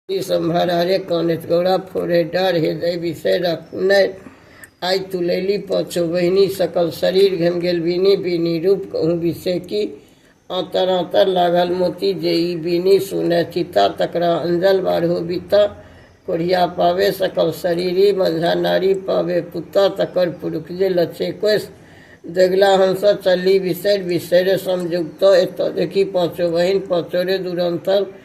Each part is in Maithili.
सम्हर हरे कानैत गौरा फोड़े डर हृदय विषय रखने आइ तुलैली पाँचो बहिनी सकल शरीर घम गेल बीनी बीनी रूप कहूँ विषय की आतर आतर लागल मोती जे ई बीनी सुने चिता तकरा अंजल बारहो बीता कोढ़िया पावे सकल शरीरी मंझा नारी पावे पुता तकर पुरुख जे लचे कोस जगला हंस चली विसर विसर समझुक्त एत देखी पाँचो बहिन पाँचो रे दुरंतर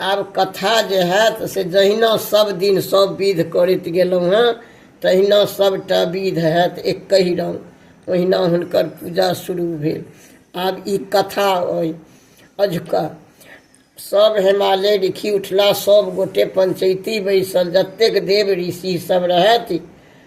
आब कथा जे हैत से जहिना सब दिन सब विध करैत गेलहुँ हेँ तहिना सभटा विध हैत एकहि रंग ओहिना हुनकर पूजा शुरू भेल आब ई कथा अइ अझुका सब हिमालय लिखि उठला सब गोटे पंचैती बैसल जतेक देव ऋषि सब रहथि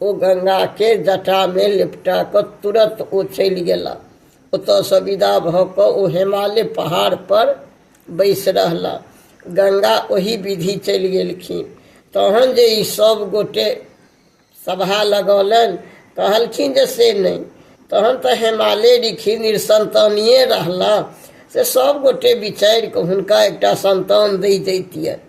ओ गंगाके जटामे लिपटा कऽ तुरत ओ चलि गेला ओतयसँ विदा भऽ कऽ ओ हिमालय पहाड़पर बैसि रहला गंगा ओही विधि चलि गेलखिन तहन जे ई सभ गोटे सभा लगौलनि कहलखिन जे से नहि तहन तऽ हिमालय ऋखि निरसन्तानिए रहला से सभ गोटे विचारि कऽ हुनका एकटा सन्तान दै जैतियनि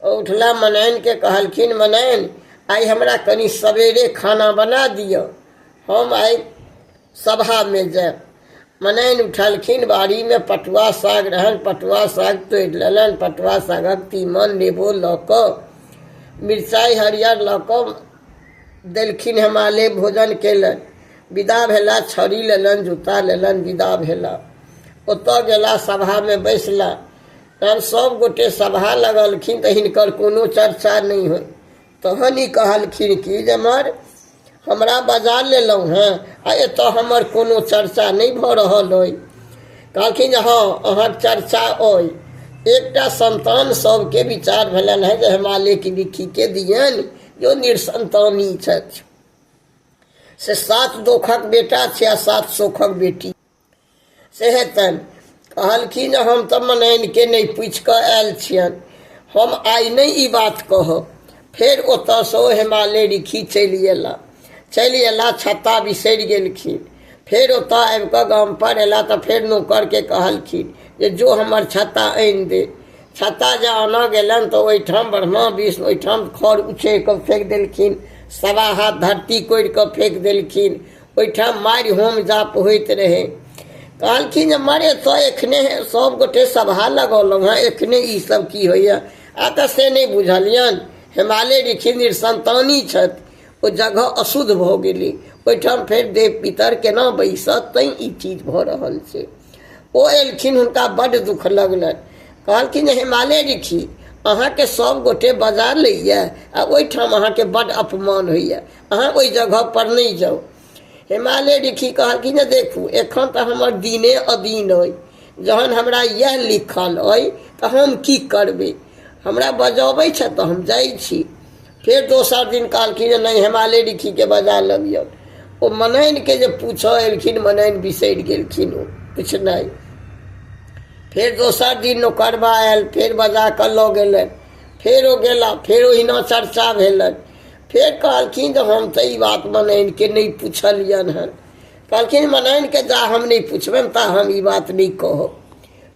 उठला मनैन के कहलखिन मनैन आइ हमरा कनि सवेरे खाना बना दिअ हम आइ सभामे जायब मनैन उठलखिन बाड़ीमे पटुआ साग रहन पटुआ साग तोड़ि लेलनि पटुआ सागक तीमन नेबो लऽ कऽ मिरचाइ हरियर लऽ कऽ देलखिन हमाले भोजन केलनि विदा भेला छड़ी लेलनि जूता लेलनि विदा भेला ओतऽ गेला सभामे बैसला तहन सब गोटे सभा लगलखिन तऽ हिनकर कोनो चर्चा नहि होइ तहन ई कहलखिन कि जे मर हमरा बजा लेलहुँ हेँ आ एतऽ हमर कोनो चर्चा नहि भऽ रहल अइ कहलखिन जे हँ अहाँके चर्चा अइ एकटा संतान सबके विचार भेलनि हेँ जे हिमालयके विखीके दियनि जो निरसंतानी छथि से सात दोखक बेटा छै आ सात सोखक बेटी से हेतनि कहलखिन हम तऽ मनैनके नहि पूछि कऽ आयल छियनि हम आइ नहि ई बात कहब फेर ओतयसँ ओ हेमाले रिखी चलि गेला चलि अयला छत्ता बिसरि गेलखिन फेर ओतय आबि कऽ गामपर अयला तऽ फेर नौकरके कहलखिन जे जो हमर छत्ता आनि दे छत्ता जे आनऽ गेलनि तऽ ओहिठाम ब्रह्मा विष्णु ओहिठाम खर उछेर कऽ फेंक देलखिन सवा हाथ धरती कोरि कऽ फेंक देलखिन ओहिठाम मारि होम जाप होइत रहै कहलखिन जे मरे तो एखने सब गोटे सभा लगौलहुँ हँ एखने ई सब की होइए आ तऽ से नहि बुझलियनि हिमालय ऋषि निसंतानी छथि ओ जगह अशुद्ध भऽ गेलै ओहिठाम फेर देव पितर केना बैसत तैं ई चीज भऽ रहल छै ओ एलखिन हुनका बड्ड दुख लगलनि कहलखिन जे हिमालय ऋषि अहाँके सब गोटे बजा लैए आ ओहिठाम अहाँके बड्ड अपमान होइए अहाँ ओहि जगह पर नहि जाउ हिमालय ऋषि कहलखिन जे देखू एखन तऽ हमर दिने अदीन अइ जहन हमरा इएह लिखल अइ तऽ हम की करबै हमरा बजबै छथि तऽ हम जाइ छी फेर दोसर दिन कहलखिन जे नहि हिमालय ऋषिके बजा लबियौ ओ मनैनके जे पूछऽ एलखिन मनैन बिसरि गेलखिन ओ पुछनाइ फेर दोसर दिन नौकरबा आयल फेर बजा कऽ लऽ गेलनि फेर ओ गेला फेर ओहिना चर्चा भेलनि फेर कहलखिन जे हम तऽ ई बात मनाइनके नहि पुछलियनि हन कहलखिन मनाइनके जा हम नहि पुछबनि ता हम ई बात नहि कहब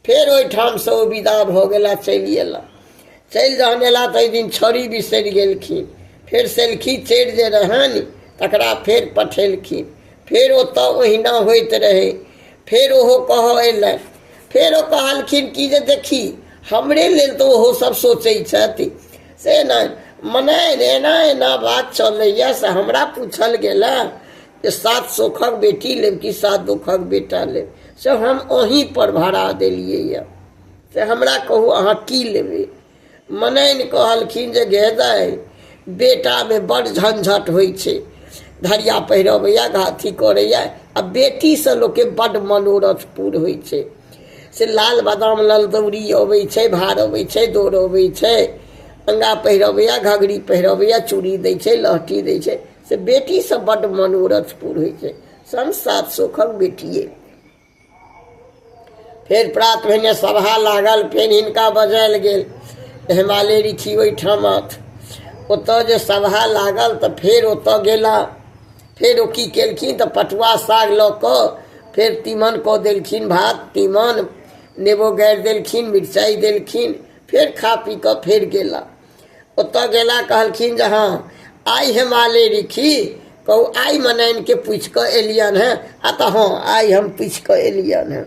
फेर ओहिठामसँ ओ विदा भऽ गेला चलि अयला चलि जहन अयला तऽ दिन छड़ी बिसरि गेलखिन फेर सेलखी चढ़ि जे रहनि तकरा फेर पठेलखिन फेर ओतऽ ओहिना होइत रहै फेर ओहो कहऽ अयलनि फेर ओ कहलखिन कि जे देखी हमरे लेल तऽ ओहो सभ सोचै छथि से नहि मने एना एना बात चलैए से हमरा पूछल गेल जे सात सोखक बेटी लेब कि सात दुखक बेटा लेब से हम ओही पर भरा देलियैए से हमरा कहू अहाँ की लेबै मनैन कहलखिन जे गेदै बेटामे बड़ झंझट होइ छै धरिया पहिरबैए घाथी करैए आ बेटीसँ लोकके बड्ड मनोरथ पूर होइ छै से लाल बादाम लाल दौरी अबै छै भार अबै छै दौड़ अबै छै अंगा पहिरबैया घघरी पहिरबैया चूड़ी दै छै लहठी दै छै से बेटीसँ बड्ड मनोरथ पूरै छै सन सात सोखक बेटिए फेर प्रात भेने सभा लागल फेर हिनका बजायल गेल हिमालय ऋषि ओहिठाम ओतऽ जे सभा लागल तऽ फेर ओतऽ गेला फेर ओ की केलखिन तऽ पटुआ साग लऽ कऽ फेर तीमन कऽ देलखिन भात तीमन नेबो गाड़ि देलखिन मिरचाइ देलखिन फेर खा पी कऽ फेर गेला ओतऽ गेला कहलखिन जे हँ आइ हम आले रिखी कहू आइ मनाइनके पुछि कऽ एलियनि हेँ आ तऽ हँ आइ हम पुछि कऽ एलियनि हेँ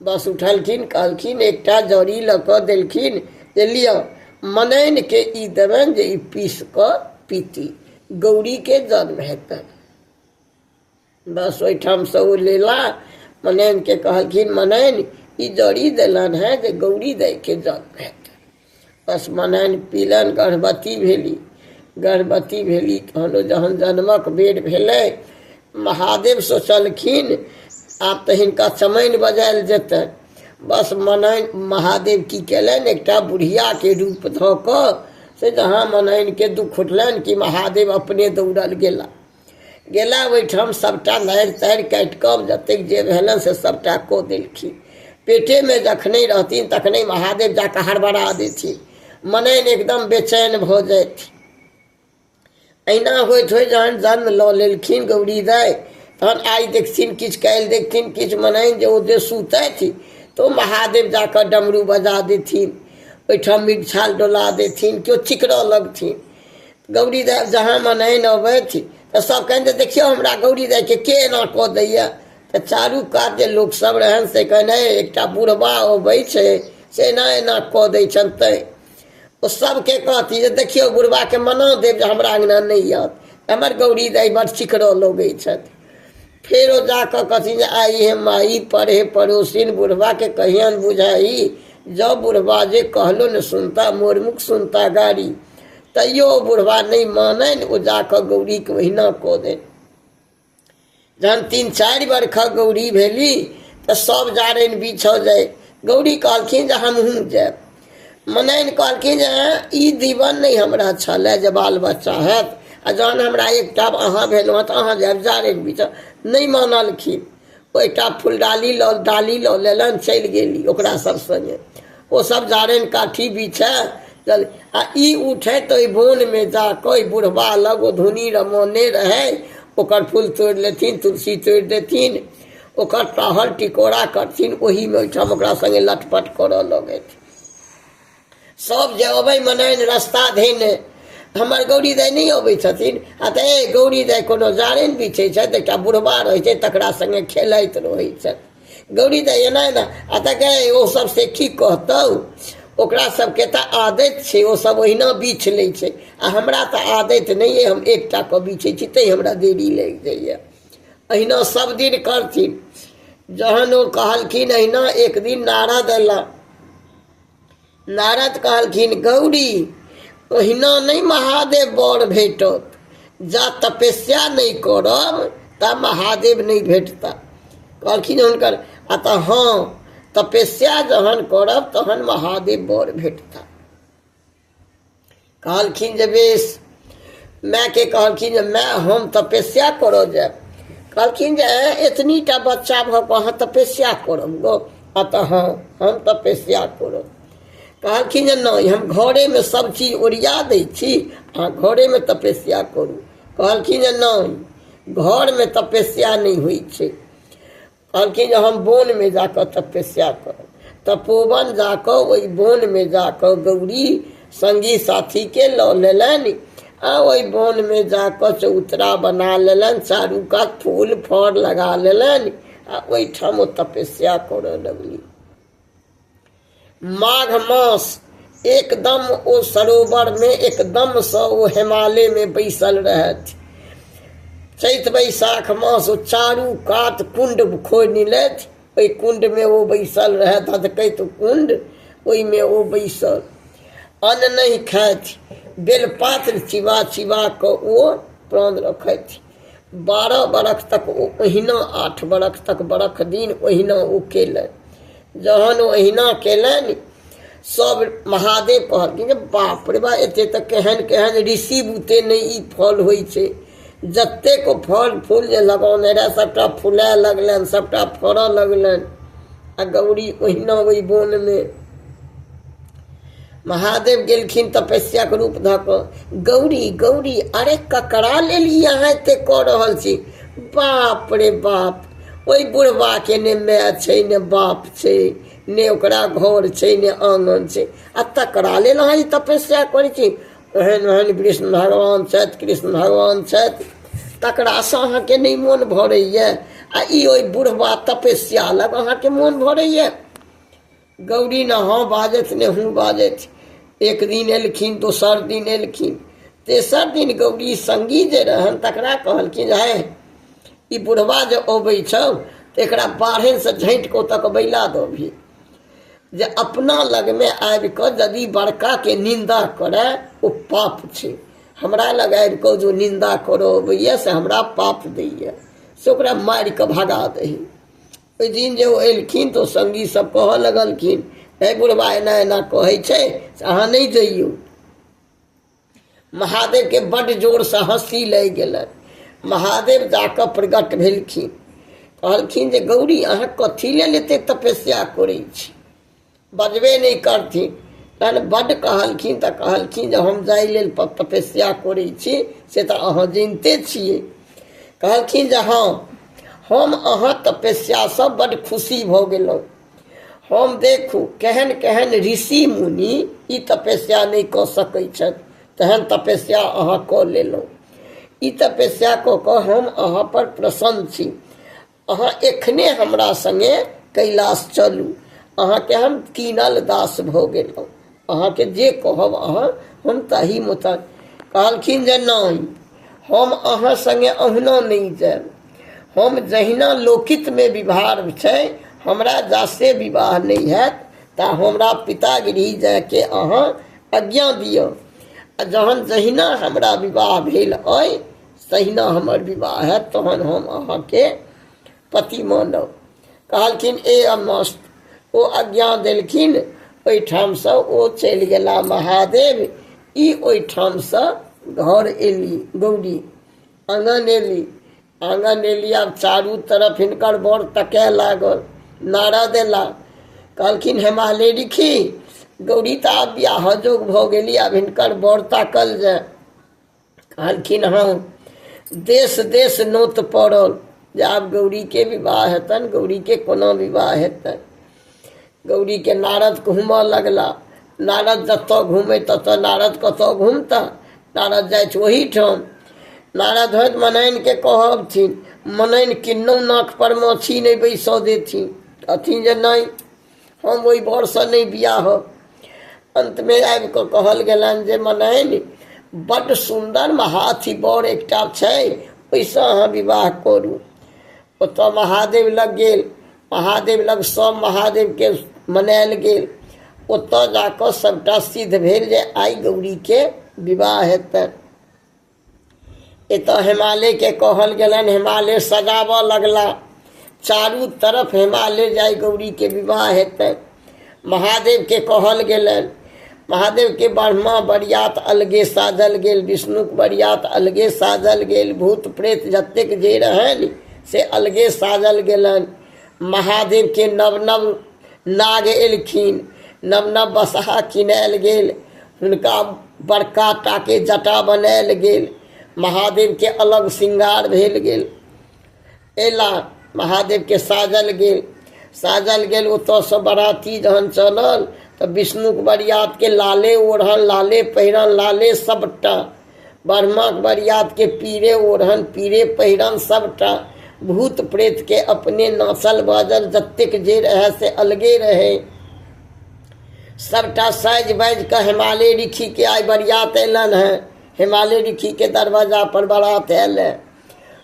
बस उठलखिन कहलखिन एकटा जड़ी लऽ कऽ देलखिन जे लिअ मनैनके ई देबनि जे ई पीस कऽ पीती गौरीके जन्म हेतनि बस ओहिठामसँ ओ लेला मनैनके कहलखिन मनैन ई जड़ी देलनि हेँ जे गौरी दाइके जन्म हेतनि पसमनाइन पीलनि गर्भवती भेली गर्भवती भेली तहन जहन जन्मक बेर भेलै महादेव सोचलखिन आब तऽ हिनका चमैन बजायल जेतनि बस मनाइन महादेव की केलनि एकटा बुढ़ियाके रूप धऽ कऽ से जहाँ मनाइनके दुख उठलनि कि महादेव अपने दौड़ल गेला गेला ओहिठाम सभटा नारि तारि काटि कऽ जतेक जे भेलनि से सभटा कऽ देलखिन पेटेमे जखने रहथिन तखने महादेव जा कऽ हड़बड़ा देथिन मनैन एकदम बेचैन भऽ जाथि अहिना होइत होइत जहन जन्म लऽ लेलखिन गौरी दाइ तहन आइ देखथिन किछु काल्हि देखथिन किछु मनैन जे ओ जे सुतथि तऽ ओ महादेव जा कऽ डमरू बजा देथिन ओहिठाम मिगछाल डोला देथिन केओ चिकरऽ लगथिन गौरी दाइ जहाँ मनैन अबथि तऽ सभ कहनि जे देखियौ हमरा गौरी दाइके के एना कऽ दैए तऽ चारू कात जे लोकसभ रहनि से कहनि हे एकटा बुढ़बा अबै छै से एना एना कऽ दै छनि तैँ ओ सभके कहती जे देखियौ बुढ़बाके मना देब जे हमरा अङ्गना नहि आयत हमर गौरी दाइ बड़ चिकरऽ लगै छथि फेर ओ जा कऽ कहथिन जे आइ हे माइ पढ़े पड़ोसिन बुढ़बाके कहियन बुझाइ जँ बुढ़बा जे कहलो ने सुनता मोर मुख सुनता गाड़ी तैयो ओ बुढ़वा नहि माननि ओ जा कऽ गौरीके ओहिना कऽ देनि जहन तीन चारि बरखक गौरी भेली तऽ सभ जारनि बिछऽ जाय गौरी कहलखिन जे हमहूँ जायब मनैन कहलखिन जे ई दीवन नहि हमरा छलै जे बाल बच्चा हैत आ जहन हमरा एकटा अहाँ भेलहुँ तऽ अहाँ जायब जारनि बिछऽ नहि मानलखिन ओहिठाम फुलडाली लऽ डाली लऽ लेलनि चलि गेली ओकरा सब सङ्गे ओ सब जारनि काठी बिछए चल आ ई उठे तऽ ओहि बोनमे जा कऽ ओहि बुढ़बा लग ओ धुनी रमौने रहै ओकर फूल तोड़ि लेथिन तुलसी तोड़ि देथिन ओकर टहल टिकोरा करथिन ओहीमे ओहिठाम ओकरा सङ्गे लटपट करऽ लगथि सब जे अबै मनाइन रस्ता धैन हमर गौरी दाइ नहि अबै छथिन आ तऽ ए गौरी दाइ कोनो जारनि बिछै छथि एकटा बुढ़बा रहै छै तकरा संगे खेलैत रहै छथि गौरी दाइ एना एना आ तऽ गए ओ सब से की कहतौ ओकरा सबके तऽ आदत छै ओ सब ओहिना बीछ लै छै आ हमरा तऽ आदत नहि अइ हम एकटा कऽ बीछै छी तैं हमरा देरी लागि जाइए अहिना सब दिन करथिन जहन ओ कहलखिन अहिना एक दिन नारद अयला नारद कहलखिन गौरी ओहिना नहि महादेव बर भेटत जा तपस्या नहि करब ता महादेव नहि भेटता कहलखिन हुनकर आ तऽ हँ तपस्या जहन करब तहन महादेव बर भेटता कहलखिन जे बेस मायके कहलखिन जे माय हम तपस्या करऽ जायब कहलखिन जे "ऐं, एतनी टा बच्चा भऽ कऽ अहाँ तपस्या करब गो आ तऽ हँ हम तपस्या करब कहलखिन जे नहि हम घरेमे सब चीज ओरिया दै छी अहाँ घरेमे तपस्या करू कहलखिन जे नहि घरमे तपस्या नहि होइ छै कहलखिन जे हम बोनमे जा कऽ तपस्या करब तपोवन जा कऽ ओहि बोनमे जा कऽ गौरी सङ्गी साथीके लऽ लेलनि आ ओहि बोनमे जा कऽ चौतरा बना लेलनि चारू कात फूल फड़ लगा लेलनि आ ओहिठाम ओ तपस्या करय लगली माघ मास एकदम ओ सरोवर में एकदम से ओ हिमालय में बैसल रहथि चैत बैसाख मास ओ चारू कात कुंड खोनि लेथि ओहि कुंड में ओ बैसल रहै धधकैत कुंड ओहिमे ओ बैसल अन्न नहि खाथि बेलपात्र चिबा चिबा कऽ ओ प्राण रखथि बारह बरख तक ओ ओहिना आठ बरख तक बरख दिन ओहिना ओ केलनि जहन ओ ओहिना केलनि सब महादेव कहलखिन जे बाप रे बा एते तऽ केहन केहन ऋषि बुते नहि ई फल होइ छै जतेक ओ फल फूल जे लगौने रहए सभटा फुलाए लगलनि सभटा फड़ऽ लगलनि आ गौरी ओहिना ओहि बोनमे महादेव गेलखिन तपस्याक रूप धऽ कऽ गौरी गौरी अरे ककरा लेल ई अहाँ एते कऽ रहल छी बाप रे बाप ओहि बुढ़बाके ने माय छै ने बाप छै ने ओकरा घर छै ने आङ्गन छै आ तकरा लेल अहाँ ई तपस्या करै छी ओहन ओहन कृष्ण भगवान छथि कृष्ण भगवान छथि तकरासँ अहाँके नहि मोन भरैए आ ई ओहि बुढ़बा तपस्या लग अहाँके मोन भरैए गौरी ने हँ बाजथि ने हूँ बाजथि एक दिन एलखिन दोसर दिन एलखिन तेसर दिन गौरी संगी जे रहन तकरा कहलखिन है ई बुढ़वा जे अबै छौ तऽ एकरा बाढ़ेसँ झाँटि कऽ ओतऽ बैला दबही जे अपना लगमे आबि कऽ यदि बड़काके निन्दा करए ओ पाप छै हमरा लग आबि कऽ जो निन्दा करऽ अबैए से हमरा पाप दैए से ओकरा मारि कऽ भगा दही ओहि दिन जे ओ एलखिन तऽ ओ सङ्गी सभ कहऽ लगलखिन हे बुढ़बा एना एना कहै छै से अहाँ नहि जइयौ महादेवके बड्ड जोरसँ हँसी लागि गेलनि महादेव जाकऽ प्रगट भेलखिन कहलखिन जे गौरी अहाँ कथी लेल एते तपस्या करै छी बजबे नहि करथिन तहन बड्ड कहलखिन तऽ कहलखिन जे हम जाहि लेल प- तपस्या करै छी से तऽ अहाँ जनिते छियै कहलखिन जे हँ हम अहाँ तपस्यासँ बड्ड खुशी भऽ गेलहुँ हम देखू केहन केहन ऋषि मुनि ई तपस्या नहि कऽ सकै छथि तेहन तपस्या अहाँ कऽ लेलहुँ ई तपस्या कऽ कऽ हम अहाँ पर प्रसन्न छी अहाँ एखने हमरा सङ्गे कैलाश चलू अहाँके हम कीनल दास भऽ गेलहुँ अहाँके जे कहब अहाँ हम ताहि मोताबिक कहलखिन जे नहि हम अहाँ सङ्गे अहुना नहि जायब हम जहिना लोकितमे विवाह छै हमरा जासे विवाह नहि हैत तऽ हमरा पिता गृह जायके अहाँ आज्ञा दिअ आ जहन जहिना हमरा विवाह भेल अइ तहिना हमर विवाह हैत तहन हम अहाँके पति मानब कहलखिन ए अमस्त ओ आज्ञा देलखिन ओहिठामसँ ओ चलि गेला महादेव ई ओहिठामसँ घर एली गौरी आङ्गन एली आङ्गन एली आब चारू तरफ हिनकर बर तकय लागल नारद एला कहलखिन हेमाले रिखी गौरी तऽ आब बियाह जोग भऽ गेली आब हिनकर बर ताकल जाय कहलखिन हँ देश देश नोत पड़ल जे आब गौरीके विवाह हेतनि गौरीके कोना विवाह हेतनि गौरीके नारद घूमऽ लगला नारद जतऽ घूमै ततऽ नारद कतऽ घूमता नारद जाइत ओहीठाम नारद होइत मनैनके कहबथिन मनैन किन्नौ नाक पर माछी नहि बैसऽ देथिन अथी जे नहि हम ओहि बरसँ नहि बियाह होब अन्तमे आबि कऽ कहल गेलनि जे मनैन बड्ड सुन्दर महाथी बर एकटा छै ओहिसँ अहाँ विवाह करू ओतऽ महादेव लग गेल महादेव लग सब महादेवके मनायल गेल ओतऽ जाकऽ सभटा सिद्ध भेल जे आइ गौरीके विवाह हेतनि एतऽ हिमालयके कहल गेलनि हिमालय सजाबऽ लगला चारू तरफ हिमालय जाय गौरीके विवाह हेतै महादेवके कहल गेलनि महादेवके ब्रह्मा बरियात अलगे साजल गेल विष्णुके बरियात अलगे साजल गेल भूत प्रेत जतेक जे रहनि से अलगे साजल गेलनि महादेवके नव नव नाग एलखिन नव नव बसहा किनायल गेल हुनका बड़का टाके जटा बनायल गेल महादेवके अलग श्रृंगार भेल गेल अयला महादेवके साजल गेल साजल गेल ओतयसँ बराती जहन चलल तऽ विष्णुक बरियातके लाले ओढ़ल लाले पहिरल लाले सभटा बर्माक बरियात के पीरे ओढ़न पीरे पहिरन सबटा भूत प्रेत के अपने नाचल बाजल जतेक जे रहै से अलगे रहै सबटा साजि बाजि कऽ हिमालय ऋखी के आइ बरियात अयलनि हेँ हिमालय ऋखी के दरवाजा पर बारात आयल है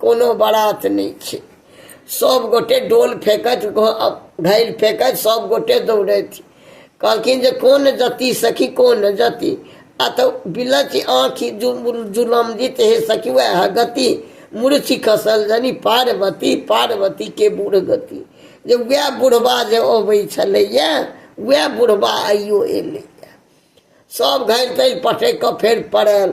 कोनो बारात नहि छै सब गोटे डोल फेकैत घैल फेकैत सब गोटे दौड़ैत कहलखिन जे कोन जति सखी कोन जति आ तऽ बिलच आँखि जुलम जीत हे सखी वएह गति मूर्ति खसल जनी पार्वती पार्वती के बूढ़ गति जे वएह बुढ़बा जे अबै छलैए वएह बुढ़बा आइयो एलैए सब घैल तैल पटकि कऽ फेर पड़ल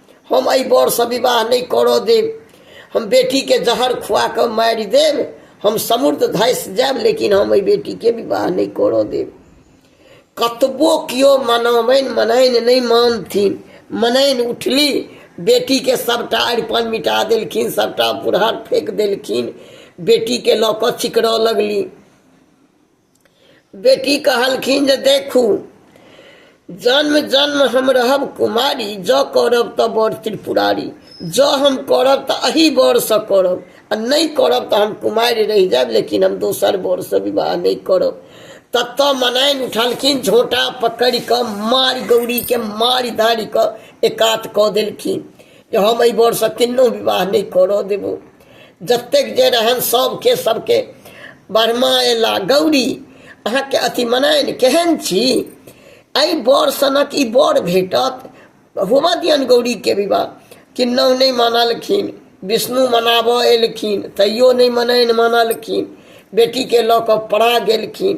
हम एहि बरसँ विवाह नहि करऽ देब हम बेटीके जहर खुआ कऽ मारि देब हम समृद्ध धसि जायब लेकिन हम एहि बेटीके विवाह नहि करऽ देब कतबो केओ मनाबनि मनाइन नहि मानथिन मनाइन उठली बेटीके सभटा अरिपन मिटा देलखिन सभटा पुरहर फेंक देलखिन बेटीके लऽ कऽ चिकरऽ लगली बेटी कहलखिन जे देखू जन्म जन्म हम रहब कुमारी जँ करब तऽ बड़ त्रिपुरारी जँ हम करब तऽ अही बरसँ करब आ नहि करब तऽ हम कुमारि रहि जायब लेकिन हम दोसर बरसँ विवाह नहि करब तत मनाइन उठलखिन झोटा पकड़ि कऽ मारि गौरीके मारि धारि कऽ एकात कऽ देलखिन जे हम एहि बरसँ किन्नो विवाह नहि करऽ देबो जतेक जे रहन सभके सभके बर्मा अयला गौरी अहाँके अथी मनायन केहन छी एहि बर सनक ई बर भेटत होबऽ दियनि गौरीके विवाह किन्नहु नहि मानलखिन विष्णु मनाबऽ एलखिन तैयो नहि मनैन मानलखिन बेटीके लऽ कऽ पड़ा गेलखिन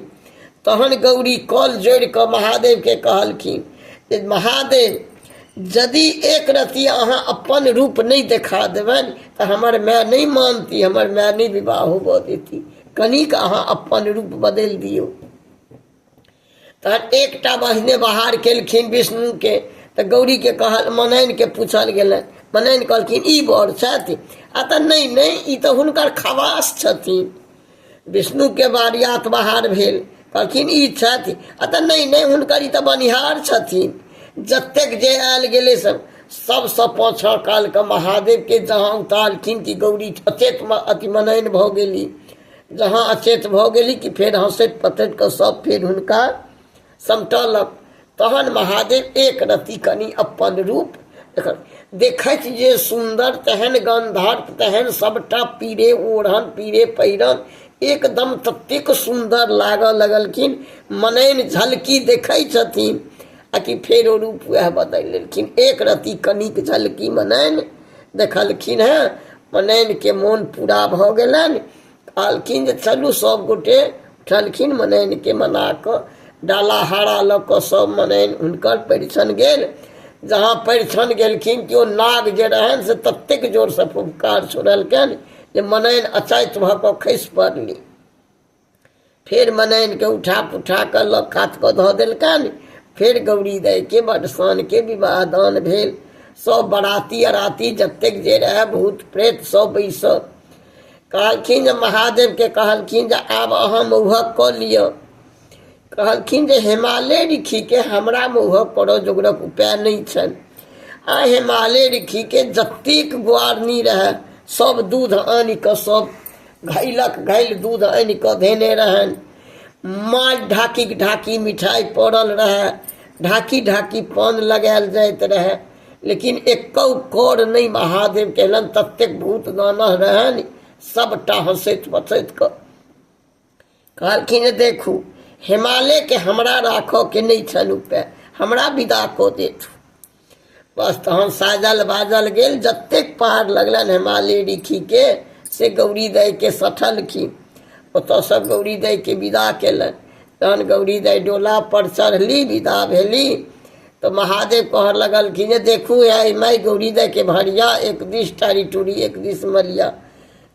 तहन गौरी कल जोड़ि कऽ महादेवके कहलखिन जे महादेव यदि एक रत्ती अहाँ अपन रूप नहि देखा देबनि तऽ हमर माय नहि मानती हमर माय नहि विवाह होबऽ देती कनिक अहाँ अपन रूप बदलि दियौ तहन एकटा बहिने बहार केलखिन विष्णुके तऽ गौरीके कहल मनैनके पूछल गेलनि मनैन कहलखिन ई बड़ छथि आ तऽ नहि नहि ई तऽ हुनकर खवास छथिन विष्णुके बारियात बहार भेल कहलखिन ई छथि आ तऽ नहि नहि हुनकर ई तऽ बनिहार छथिन जतेक जे आयल गेलै सब सबसँ पाछाँ कालके महादेवके जहाँ उतारलखिन कि गौरी अचेत अति मनैन भऽ गेली जहाँ अचेत भऽ गेली कि फेर हँसैत पतैत कऽ सब फेर हुनका समटलक तहन महादेव एक रति कनि अपन रूप देखैत जे सुन्दर तेहन गन्धर्प तेहन सभटा पीरे ओढ़न पीरे पहिरन एकदम ततेक सुन्दर लागऽ लगलखिन मनैन झलकी देखै छथिन आ कि फेर ओ रूप वएह बदलि लेलखिन एक रति कनिक झलकी मनैन देखलखिन हेँ मनैनके मोन पूरा भऽ गेलनि कहलखिन जे चलू सभ गोटे चलखिन मनैनके मना कऽ डाला हरा लऽ कऽ सभ मनैन हुनकर परिछन गेल जहाँ परिछन गेलखिन कि ओ नाग जे रहनि से ततेक जोरसँ फुफकार छोड़लकनि जे मनैन अचैत भऽ कऽ खसि पड़ली फेर मनाइनके उठा पुठा कऽ लऽ कात कऽ धऽ देलकनि फेर गौरी दाइके बडसानके विवाह दान भेल सभ बराती अराती जतेक जे रहए भूत प्रेत सभ बैसल कहलखिन जे महादेवके कहलखिन जे आब अहाँ मौहक कऽ लिअ कहलखिन जे हिमालय ऋखिके हमरा मौहक करऽ जोगरक उपाय नहि छनि आ हिमालय ऋखिके जतेक गुआरनी रहए सभ दूध आनि कऽ सभ घैलक घैल दूध आनि कऽ धेने रहनि माल ढाकी ढाकी मिठाइ पड़ल रहए ढाकी ढाकी पान लगायल जाइत रहए लेकिन एकौ कर नहि महादेव केलनि ततेक भूत दानह रहनि सभटा हँसैत बसैत कऽ कहलखिन देखू हिमालयके हमरा राखऽके नहि छल उपाय हमरा विदा कऽ देत बस तहन साजल बाजल गेल जतेक पहाड़ लगलनि हिमालय ऋखिके से गौरी दाइके सठलखिन ओतऽसँ गौरी दाइके विदा केलनि तहन गौरी दाइ डोलापर चढ़ली विदा भेली तऽ महादेव कहऽ लगलखिन जे देखू आइ माइ गौरी दाइके भरिया एक दिस टारी टूरी एक दिस मरिया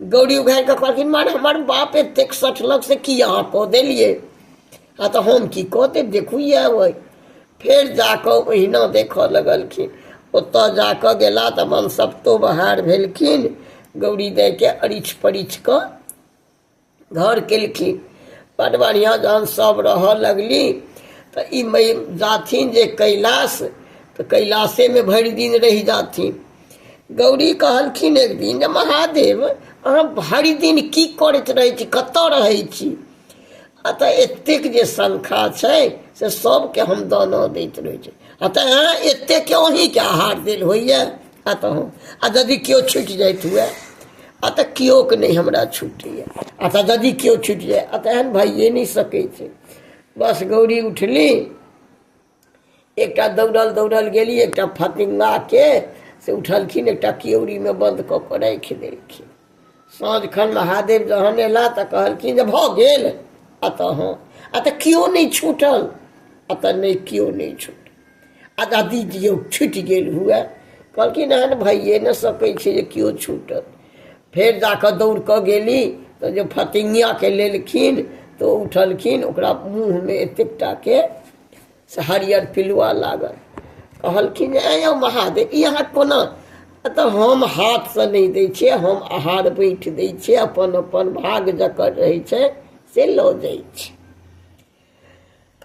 गौरी उघारि कऽ कहलखिन मार हमर बाप एतेक सठलक से की अहाँ कऽ देलियै आ तऽ हम की कऽ देब देखू इएह अइ फेर जा कऽ ओहिना देखऽ लगलखिन ओतऽ जा कऽ गेला तऽ मन सप्तो बहार भेलखिन गौरी दाइके अरिछ परिछ कऽ घर केलखिन बड बढ़िआँ जहन सभ रहऽ लगली तऽ ई मै जाथिन जे कैलाश तऽ कैलाशेमे भरि दिन रहि जाथिन गौरी कहलखिन एक दिन जे महादेव अहाँ भरि दिन की करैत रहै छी कतऽ रहै छी अतः एतेक जे शंखा छै से सभके हम दाना दैत रहै छी अतः अहाँ एतेकके अहीँके आहार देल होइए अतः आ यदि केओ छुटि जाइत हुए अतः केओके नहि हमरा छुटैए अतः यदि केओ छुटि जाय अतः एहन भइए नहि सकै छै बस गौरी उठली एकटा दौड़ल दौड़ल गेली एकटा फतिङ्गाके से उठलखिन एकटा केओड़ीमे बन्द कऽ कऽ राखि देलखिन साँझ खन महादेव जहन अयला तऽ कहलखिन जे भऽ गेल आ तऽ हँ आ तऽ केओ नहि छूटल आ तऽ नहि केओ नहि छूटल आ दादी दियौ छुटि गेल हुए कहलखिन एहन भइए नहि सकै छै जे केओ छूटल फेर जा कऽ दौड़ कऽ गेली तऽ जे फतिङ्गियाके लेलखिन तऽ ओ उठलखिन ओकरा मुँहमे एतेक टाके से हरियर पिलुआ लागल कहलखिन ऐ यौ महादेव ई अहाँ कोना तऽ हम हाथसँ नहि दै छियै हम आहार बैठ दै छियै अपन अपन भाग जकर रहै छै से लऽ जाइ छै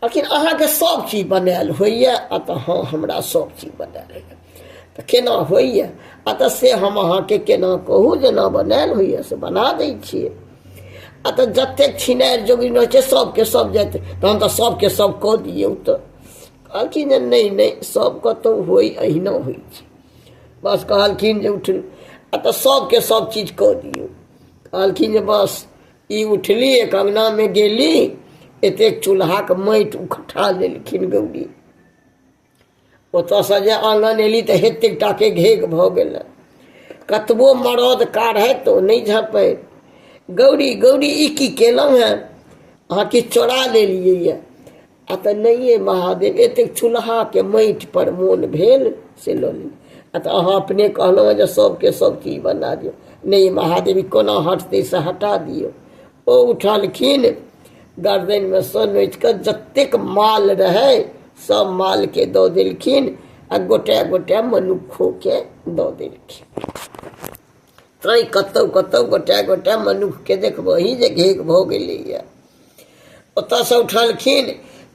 कहलखिन अहाँके सभ चीज बनायल होइए आ तऽ हँ हमरा सभ चीज बनायल होइए तऽ केना होइए आ तऽ से हम अहाँके केना कहू जेना बनायल होइए से बना दै छियै आ तऽ जतेक छिनार जोगिन रहै छै सभके सभ जाइत तहन तऽ सभके सभ कऽ दियौ तऽ कहलखिन जे नहि नहि सभके तऽ होइ अहिना होइ छै बस कहलखिन जे उठू आ तऽ सभके सभ चीज कऽ दियौ कहलखिन जे बस ई उठली एक अङ्गनामे गेली एतेक चूल्हाके माटि उठा लेलखिन गौरी ओतयसँ जे आनन एली तऽ हेतेक टाके घेग भऽ गेलै कतबो मरद काढ़ै तऽ ओ नहि झँपै गौरी गौरी ई की केलहुँ हेँ अहाँ किछु चोरा लेलियै यए आ तऽ नहिए महादेव एतेक चूल्हाके माटिपर मोन भेल से लऽ ली आ तऽ अहाँ अपने कहलहुँ जे सभके सभ चीज बना दियौ नहि महादेव कोना हटतै से हटा दियौ ओ उठलखिन गर्दनिमे सँ नोचि कऽ जतेक माल रहै सभ मालके दऽ देलखिन आ गोटे गोटे मनुक्खोके दऽ देलखिन तैँ कतहु कतहु गोटे गोटे मनुक्खके देखबही जे घेक भऽ गेलैए ओतयसँ उठलखिन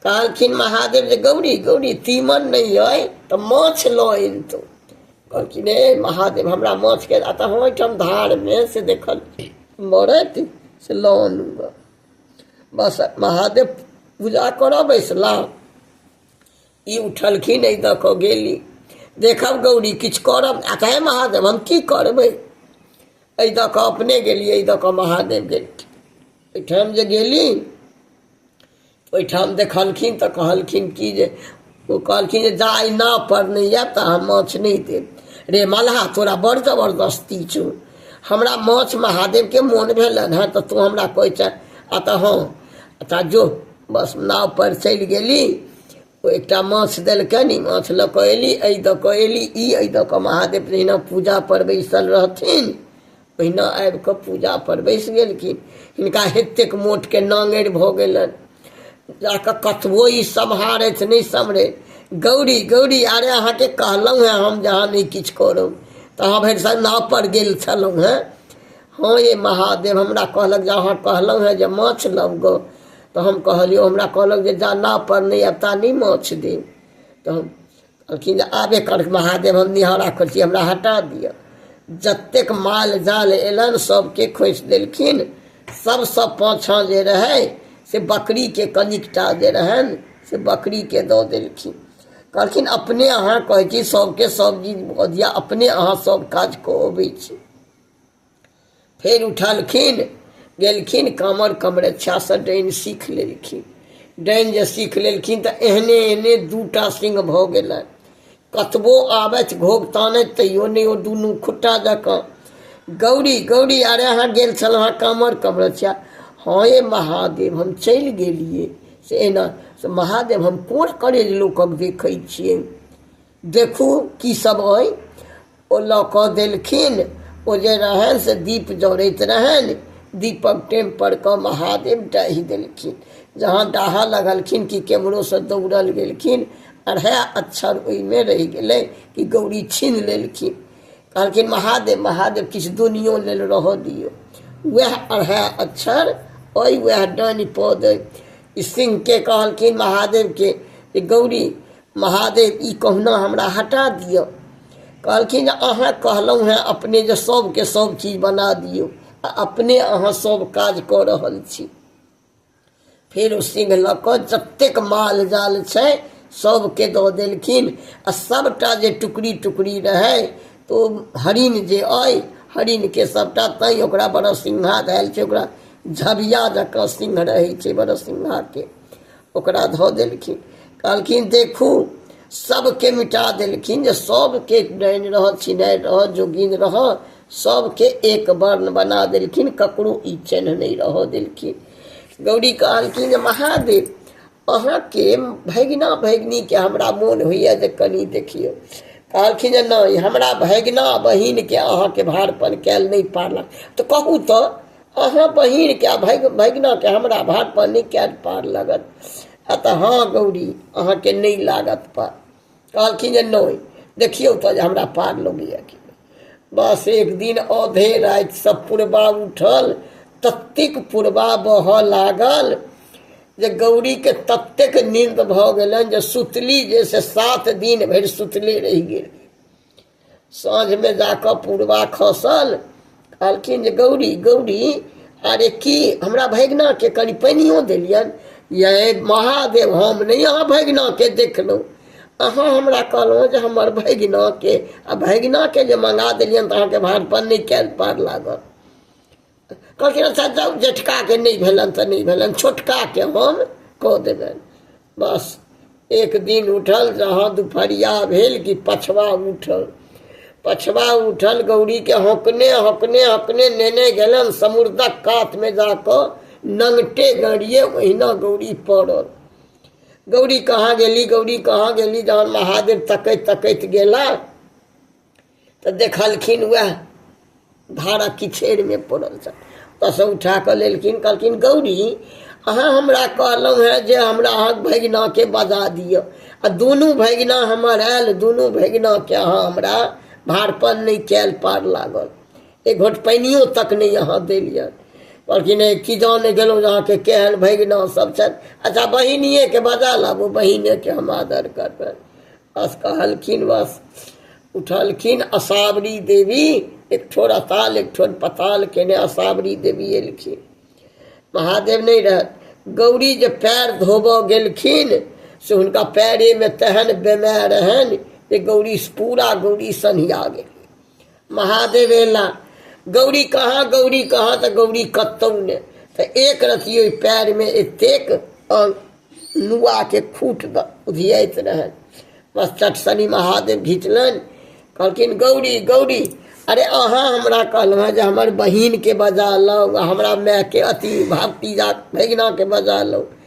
कहलखिन महादेव जे गौरी गौरी तीमन नहि अइ तऽ माछ लऽ अनतौ कहलखिन हे महादेव हमरा माछके आ तऽ हम ओहिठाम धारमे से देखल मरैत से लऽ अनू गऽ बस महादेव पूजा करऽ बैसलहुँ ई उठलखिन एहि दऽ कऽ गेली देखब गौरी किछु करब आ कहे महादेव हम की करबै एहि दऽ कऽ अपने गेली एहि दऽ कऽ महादेव गेली ओहिठाम जे गेली ओहिठाम देखलखिन तऽ कहलखिन कि जे ओ कहलखिन जे जा आइ नाव पर नहि आयब तऽ अहाँ माछ नहि देब रे मलहा तोरा बड़ जबरदस्ती छौ हमरा माछ महादेवके मोन भेलनि हँ तऽ तू हमरा कहै छै आ तऽ हँ तऽ जो बस नाव पर चलि गेली ओ एकटा माछ देलकनि ई माछ लऽ कऽ एली एहि दऽ कऽ एली ई एहि दऽ कऽ महादेव जहिना पूजा पर बैसल रहथिन ओहिना आबि कऽ पूजा पर बैस गेलखिन हिनका एतेक मोट के नांगरि भऽ गेलनि जा कऽ कतबो ई सम्हारथि नहि सम्हरथि गौरी गौरी अरे अहाँके कहलहुँ हेँ हम जे अहाँ नहि किछु करब तऽ अहाँ भरि साल नाव पर गेल छलहुँ हेँ हँ ये महादेव हमरा कहलक जे अहाँ कहलहुँ हेँ जे माछ लग तऽ हम कहलियै हमरा कहलक जे जा नाव पर नहि आयब ता नहि माछ देब तऽ हम कहलखिन जे आब एकर महादेव हम निहारा करै छी हमरा हटा दिअ जतेक माल जाल एलनि सभके खोसि देलखिन सभसँ पाछाँ जे रहै से बकरीके कनिकटा जे रहनि से बकरीके दऽ देलखिन कहलखिन अपने अहाँ कहै छी सभके सभ चीज भऽ दिअ अपने अहाँ सभ काज कऽ अबै छी फेर उठलखिन गेलखिन कामर कमरक्षासँ डाइन सीख लेलखिन डाइन जे सीख लेलखिन तऽ एहने एहने दूटा सिंह भऽ गेलनि कतबो आबथि घोग तानथि तैयो नहि ओ दुनू खुट्टा जकाँ गौरी गौरी अरे अहाँ गेल छलहुँ हेँ कामर कमरक्षा हँ ये महादेव हम चलि गेलियै से एना से महादेव हम कोन करेज लोकक देखै छियै देखू की सब अइ ओ लऽ कऽ देलखिन ओ जे रहनि से दीप जरैत रहनि दीपक टेम पर कऽ महादेव डाहि देलखिन जहाँ डाहा लगलखिन कि केम्हरोसँ दौड़ल गेलखिन अढ़ाइ अक्षर ओहिमे रहि गेलै कि गौरी छीन लेलखिन कहलखिन महादेव महादेव किछु दुनियो लेल रहऽ दियौ वएह अढ़ाइ अक्षर अइ वएह डानि पद अइ ई सिंहके कहलखिन महादेवके जे गौरी महादेव ई कहुना हमरा हटा दिअ कहलखिन अहाँ कहलहुँ हेँ अपने जे सभके सभ चीज बना दियौ आ अपने अहाँ सभ काज कऽ रहल छी फेर ओ सिंह लऽ कऽ जतेक माल जाल छै सभके दऽ देलखिन आ सभटा जे टुकड़ी टुकड़ी रहै तऽ ओ हरिण जे अइ हरिणके सभटा तैँ ओकरा बरसिंघा धयल छै ओकरा झबिया जकाँ सिंह रहै छै बरसिंघाके ओकरा धऽ देलखिन कहलखिन देखू सभके मिटा देलखिन जे सभके डाइन रहऽ छिनाइ रहऽ जोगिन रहऽ सभके एक वर्ण बना देलखिन ककरो ई चिन्ह नहि रहऽ देलखिन गौरी कहलखिन जे महादेव अहाँके भगिना भगिनीके हमरा मोन होइए जे कनि देखियौ कहलखिन जे नहि हमरा भगिना बहिनके अहाँके भारपन कयल नहि पारलक तऽ कहू तऽ अहाँ बहीनके आ भगि भगिनाके हमरा भातपर नहि कयल पार लगत आ तऽ हँ गौरी अहाँके नहि लागत पार कहलखिन जे नहि देखियौ तऽ जे हमरा पार लगैए कि नहि। बस एक दिन औधे राति सब पुरबा उठल ततेक पुरबा बहऽ लागल जे गौरीके ततेक नींद भऽ गेलनि जे सुतली जे से सात दिन भरि सुतले रहि गेल साँझमे जाकऽ पूर्वा खसल कहलखिन जे गौरी गौरी अरे की हमरा भगिनाके कनि पानियो देलियनि ये महादेव हम नहि अहाँ भगिनाके देखलहुँ अहाँ हमरा कहलहुँ जे हमर भगिनाके आ भगिनाके जे मंगा देलियनि तऽ अहाँके भानपन नहि कयल पार लागल कहलखिन अच्छा जाउ जेठकाके नहि भेलनि तऽ नहि भेलनि छोटकाके हम कऽ देबनि बस एक दिन उठल जहाँ दुपहरिया भेल कि पछवा उठल पछवा उठल गौरीके हकने हकने हकने नेने गेलन समुद्रक कातमे जा कऽ नंगटे गड़िए ओहिना गौरी पड़ल गौरी कहाँ गेली गौरी कहाँ गेली जहन महादेव तकैत तकैत गेला तऽ देखलखिन उएह धारक किछेरमे पड़ल छल ओतयसँ उठा कऽ लेलखिन कहलखिन गौरी अहाँ हमरा कहलहुँ हेँ जे हमरा अहाँ भगिनाकेँ बजा दिअ आ दुनू भगिना हमर आयल दुनू भगिनाकेँ अहाँ हमरा भारपन नहि कयल पार लागल एक घोट पानियो तक नहि अहाँ देलियनि कहलखिन हे की जाने गेलहुँ जे अहाँके केहन भगिना सभ छथि अच्छा बहिनिएके बजा लाबू बहिनेके हम आदर करबनि बस कहलखिन बस उठलखिन असावरी देवी एक ठोर अताल एक ठोर पताल केने असावरी देवी एलखिन महादेव नहि रहत गौरी जे पैर धोबऽ गेलखिन से हुनका पैरेमे तेहन बेमाय रहनि जे गौरी पूरा गौरी सन्हिया गेल महादेव एला गौरी कहाँ गौरी कहाँ तऽ गौरी कतौ ने तऽ एक रति ओहि पैरमे एतेक नुआके खूट उधियाइत रहनि बस चटसनी महादेव घिचलनि कहलखिन गौरी गौरी अरे अहाँ हमरा कहलहुँ हँ जे हमर बहिनके बजा लौ हमरा मायके अति भतीजा भगिनाके बजा लौ